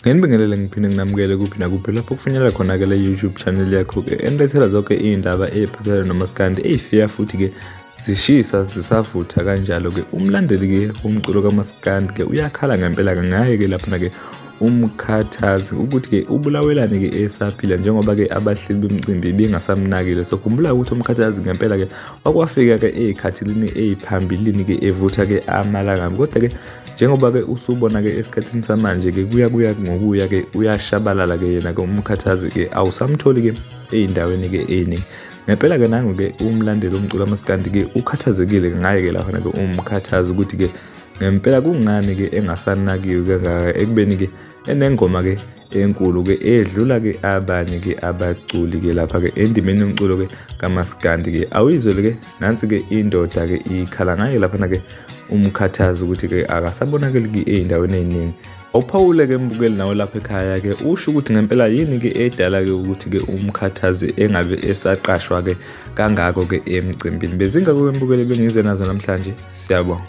ngenibingelele ngiphinde nginamukele kuphi nakuphi lapho kufinyelela khona-ke le youtube channel yakho-ke enilethela zonke iy'ndaba ey'phathelane nomaskandi ey'fika futhi-ke zishisa zisavutha kanjalo-ke umlandeli-ke umculo kamaskandi-ke uyakhala ngempela-ke ngaye-ke laphana-ke umkhathazi ukuthi-ke ubulawelani-ke esaphila njengoba-ke abahleli bemcimbi bengasamnakile so khumbula ukuthi umkhathazi ngempela-ke wakwafika-ke ey'khathilini ey'phambilini-ke evutha-ke amalangabi kodwa-ke njengoba-ke usubona-ke esikhathini samanje-ke kuya kuya ngokuya-ke uyashabalala-ke yena-ke umkhathazi-ke awusamtholi-ke ey'ndaweni-ke ey'ningi ngempela-ke nangu-ke umlandeli omculo amasikandi-ke ukhathazekile ngaye-ke laphana-ke umkhathazi ukuthi-ke ngempela kungani-ke engasanakiwe kangaka ekubeni-ke enengoma-ke enkulu-ke edlula-ke abanye-ke abaculi-ke lapha-ke endimeni yomculo-ke kamaskandi-ke awuyizwele-ke nansi-ke indoda-ke ikhala ngaye laphana-ke umkhathazi ukuthi-ke akasabonakeli-ke ey'ndaweni ey'ningi awuphawule-ke mbukeli nawe lapha ekhaya-ke usho ukuthi ngempela yini-ke edala-ke ukuthi-ke umkhathazi engabe esaqashwa-ke kangako-ke emcimbini bezingakoke mbukeli bengize nazo namhlanje siyabonga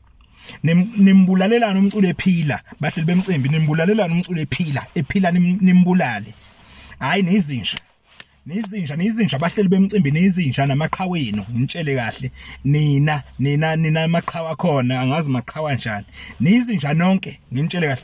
nimbulalelana umculo ephila bahleli bemcimbi nimbulalelana umculo ephila ephila nimbulale hayi nizinja nizinja nizinja bahleli bemcimbi nizinja namaqhawe enu ngitshele kahle nina nina nina amaqhawa khona angazi maqhawa njani nizinja nonke ngitshele kahle